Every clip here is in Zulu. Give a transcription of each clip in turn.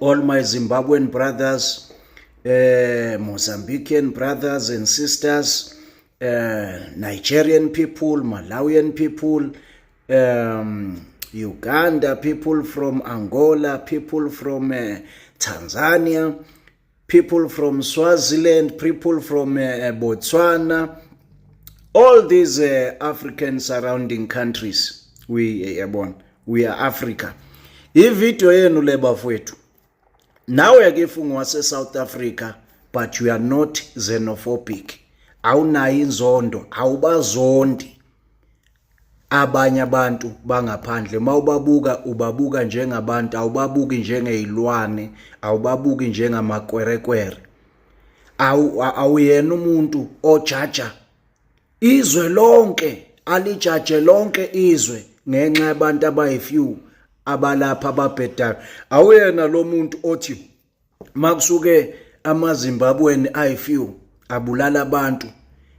all my Zimbabwean brothers, uh, Mozambican brothers and sisters, uh, Nigerian people, Malawian people, um, Uganda people from Angola, people from uh, Tanzania, people from Swaziland, people from uh, uh, Botswana, all these uh, African surrounding countries. We uh, we are Africa. Ivideo yenu le bafwethu. Nawe ake funga wase South Africa but you are not xenophobic. Awunayo inzondo, awubazondi. abanye abantu bangaphandle uma ubabuka ubabuka njengabantu awubabuki njengeyilwane awubabuki njengamakwerekwere awuyena umuntu ojaja izwe lonke alijaje lonke izwe ngenxa yabantu abayifew abalapha ababhedayo awuyena lo muntu othi makusuke amazimbabweni ayifew abulala abantu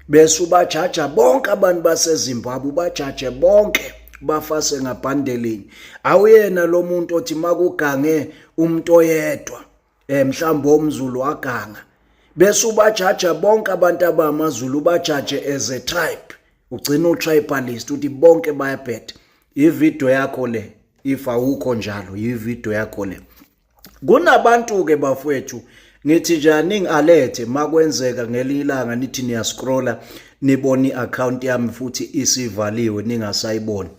bese ubajaja bonke abantu basezimbabwe ubajaje bonke bafase ngabhandelinye awuyena lo muntu othi makugange umuntu oyedwa eh mhlawumbe omzulu waganga bese ubajaja bonke abantu abamazulu ubajaje as a tribe ugcina utribalist uthi bonke bayabhetha ivideo yakho le if awukho njalo yivideo yakho le kunabantu ke bafwethu ngithi nje ning alert makwenzeka ngelinye ilanga nithi niya scrolla nibona iaccount yami futhi isivaliwe ningasayiboni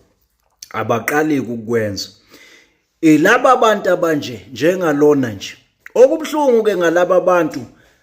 abaqali ukukwenza ilaba abantu abanje njengalona nje okubuhlungu ke ngalaba bantu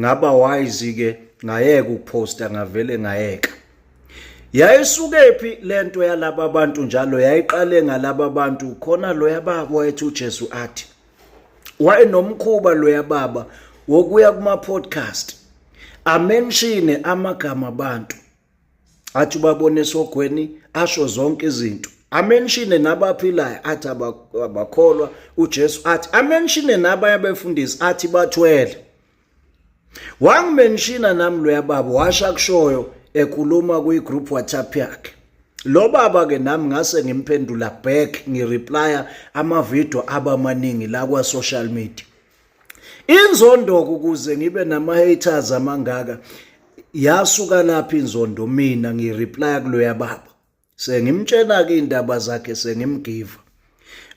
ngaba wise ke ngayeka ukuposta ngavele ngayeka yayisukephi lento yalaba abantu njalo yayiqale ngalaba abantu khona loya baba wethu uJesu athi wayenomkhuba loya baba wokuya kuma podcast amenshine amagama abantu athi ubabona esogweni asho zonke izinto amenshine nabaphilayo athi abakholwa uJesu athi amenshine nabanye abefundisi athi bathwele wangimenshina nami loya baba washa kushoyo ekhuluma kwi-group whatsapp yakhe lo baba ke nami ngase ngimphendula back ngireplya amavidiyo abamaningi la kwa-social media inzondoko ukuze ngibe nama haters amangaka yasuka laphi inzondo mina ngireplya kuloya baba sengimtshena ke indaba zakhe sengimgiva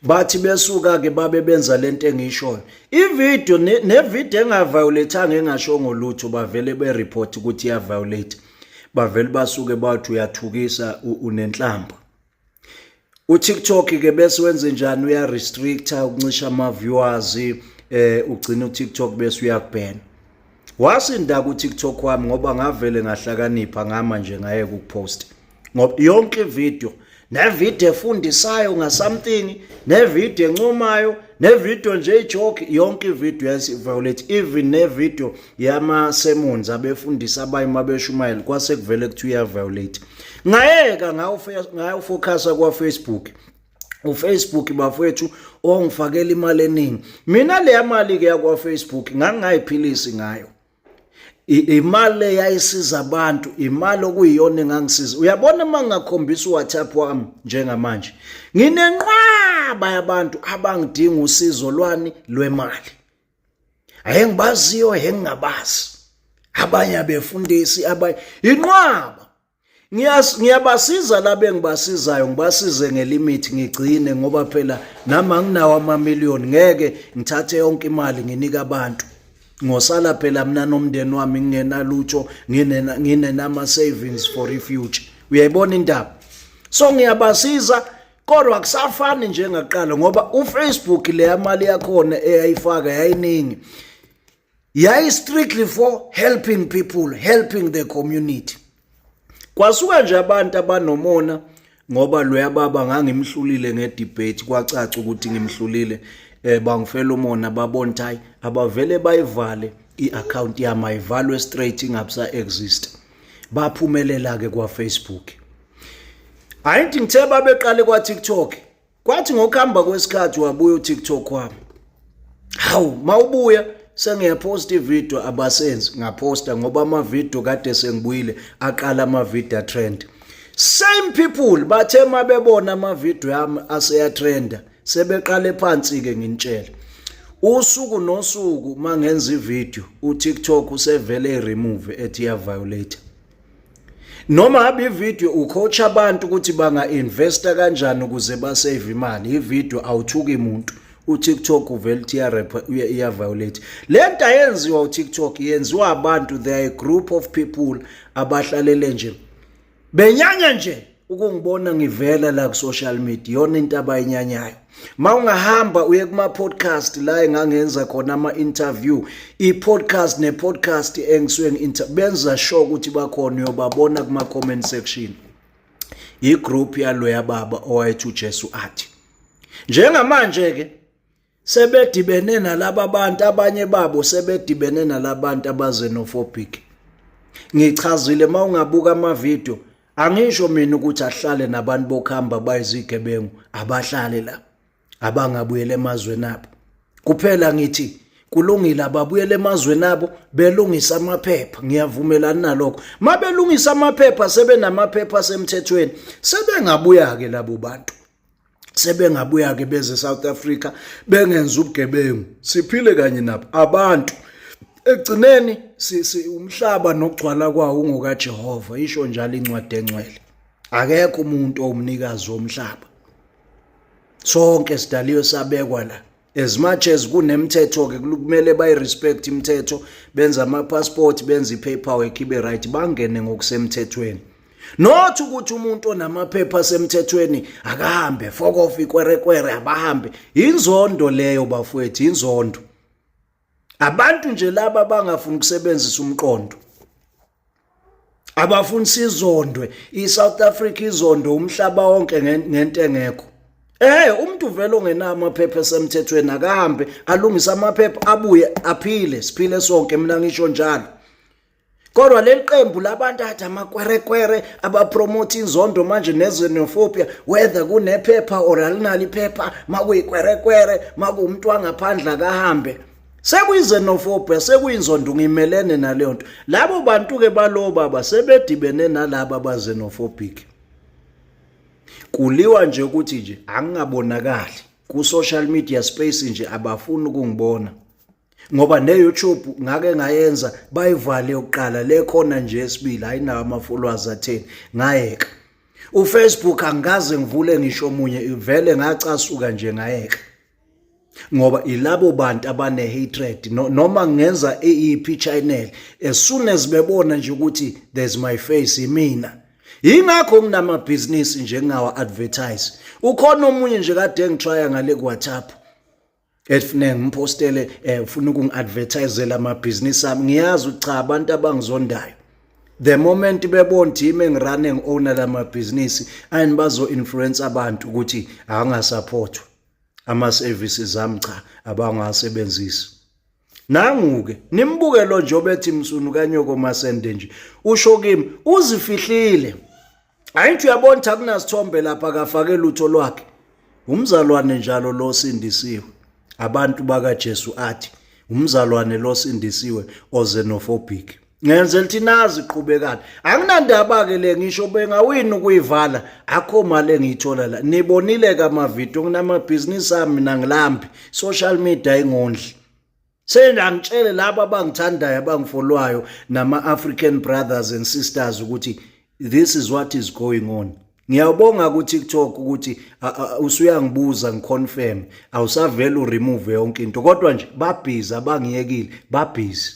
bathi besuka ke babe benza lento engishoyo ivideo nevideo engaviolethanga engashongo lutho bavele bereport ukuthi iya violate bavele basuke bathi uyathukisa unenhlamba uTikTok ke bese wenze njani uya restricta ukuncisha ama viewers eh ugcina uTikTok bese uyakubhena wasinda ku TikTok wami ngoba ngavele ngahlakanipha ngama nje ngaye ku post ngoba yonke video ne video efundisayo nga something ne video encomayo ne video nje ijoke yonke ivideo yasi violate even ne video yama sermons abefundisa abayi mabeshumayela kwase kuvele kuthi uya violate ngayeka ngayo ngayo focus kwa Facebook uFacebook bafethu ongifakela imali eningi mina leya mali ke yakwa Facebook ngangingayiphilisi ngayo imali le yayisiza abantu imali okuyiyona engangisiza uyabona uma ngingakhombisa uwhatsapp wami njengamanje nginenqwaba yabantu abangidinga usizo lwani lwemali ayengibaziyo engingabazi abanye abefundisi abanye inqwaba ngiyabasiza labe ngibasizayo ngibasize ngelimithi ngigcine ngoba phela nami anginawo amamiliyoni ngeke ngithathe yonke imali nginike abantu ngosala phela mina nomndeni wami ngingenalutsho nginenama-savings for ifuture uyayibona indaba so ngiyabasiza kodwa kusafani njengakuqala ngoba ufacebook leya mali yakhona eyayifaka yayiningi yayi strictly for helping people helping the community kwasuka nje abantu abanomona ngoba loya baba ngangimhlulile ngedebate kwacaca ukuthi ngimhlulile eh bangifela umona babona ukuthi hayi abavele bayivale i-account yami ayivalwe straight ingabsa exist baphumelela ke kwa Facebook hayi ngithi ngithe babeqale kwa TikTok kwathi ngokuhamba kwesikhathi wabuya uTikTok wami hawu mawubuya sengiyaposta ivideo abasenzi ngaposta ngoba amavideo kade sengibuyile aqala amavideo trend same people bathe uma bebona amavideo yami aseyatrenda sebeqale phansi ke nginitshela usuku nosuku mangenza ivideo uTikTok usevele remove ethi ya violator noma habe ivideo ucoacha abantu ukuthi banga-investa kanjani ukuze basave imali ivideo awuthuki muntu uTikTok uvela uTRP iya violate lento ayenziwa uTikTok yenziwa abantu they are a group of people abahlalele nje benyanya nje ukungibona ngivela la ku social media yona into abayinyanyayo mawungahamba uye kuma podcast la engangenza khona ama interview i podcast ne podcast engisuke ngi benza sure ukuthi bakhona uyobabona kuma comment section i group yaloya baba owayethi uJesu athi njengamanje ke sebedibene nalaba bantu abanye babo sebedibene nalabantu abazenophobic ngichazile mawungabuka amavideo angisho mina ukuthi ahlale nabantu bokuhamba bayizigebengu abahlale la abangabuyela emazweni abo kuphela ngithi kulungile ababuyele emazweni abo belungisa amaphepha ngiyavumelana nalokho mabelungisa amaphepha sebenamaphepha asemthethweni sebengabuya ke labo bantu sebengabuya ke beze South Africa bengenza ubugebengu siphile kanye nabo abantu ekugcineni umhlaba nokugcwala kwawo ungokaJehova isho njalo incwadi engcwele akekho umuntu owumnikazi womhlaba sonke sidaliwe sabekwa la as much as kunemthetho ke kumele bayi respect imithetho benza ama passport benza ipaperwork ibe right bangene ngokusemthethweni not ukuthi umuntu onamaphepha asemthethweni akahambe fokofa ikwerekwere abahambe inzondo leyo bafowethu inzondo abantu nje laba abangafuni ukusebenzisa umqondo abafuni sizondwe iSouth Africa izondo umhlaba wonke ngento engekho Eh umuntu vele ongenawo amaphepha esemthethweni akahambe alungise amaphepha abuye aphile siphile sonke mina ngisho njalo kodwa leli qembu labantu athi amakwerekwere abapromotha inzondo manje nezenophobia whether kunephepha or alinalo iphepha makuyikwerekwere makuwumuntu wangaphandle akahambe sekuyizenophobia sekuyinzondo ngimelene naleyo nto labo bantu-ke balowo baba sebedibene nalaba abazenophobic kuliwa nje ukuthi nje angingabonakali ku-social media space nje abafuni ukungibona ngoba neYouTube ngake ngayenza bayivale yokuqala le khona nje esibili ayinawo ama-followers atheni ngayeka uFacebook angikaze ngivule ngisho omunye ivele ngacasuka nje ngayeka ngoba ilabo bantu abane hatred noma ngenza iyiphi channel as soon as bebona nje ukuthi there's my face imina yingakho nginamabhizinisi nje ngingawa advertise ukhona omunye nje kade ngitrya ngale kwaThapha Elifune ngimpostele eh ufuna ukungiadvertisela amabhizinisi ami ngiyazi ukuthi cha abantu abangizondayo the moment bebona ukuthi yimi engirunning owner lamabhizinisi ayini bazo influence abantu ukuthi angasupportwa ama services ami cha abangasebenzisi nanguke nimbuke lo nje obethi msunu kanyoko masende nje usho kimi uzifihlile Ayintsho uyabona ukuthi akunasithombe lapha akafake lutho lwakhe. Umzalwane njalo lo sindisiwe. Abantu bakaJesu athi umzalwane lo sindisiwe ozenophobic. Ngenze lithi nazi qhubekani. Anginandaba ke le ngisho bengawini ukuyivala akho mali engiyithola la. Nibonile ke ama video nginamabhizinisi ami mina ngilambi. Social media ingondli. Sena angitshele labo abangithandayo abangifolwayo nama African brothers and sisters ukuthi this is what is going on. Ngiyabonga ku TikTok ukuthi usuyangibuza ngiconfirm awusavela uremove yonke into kodwa nje babhizi abangiyekile babhizi.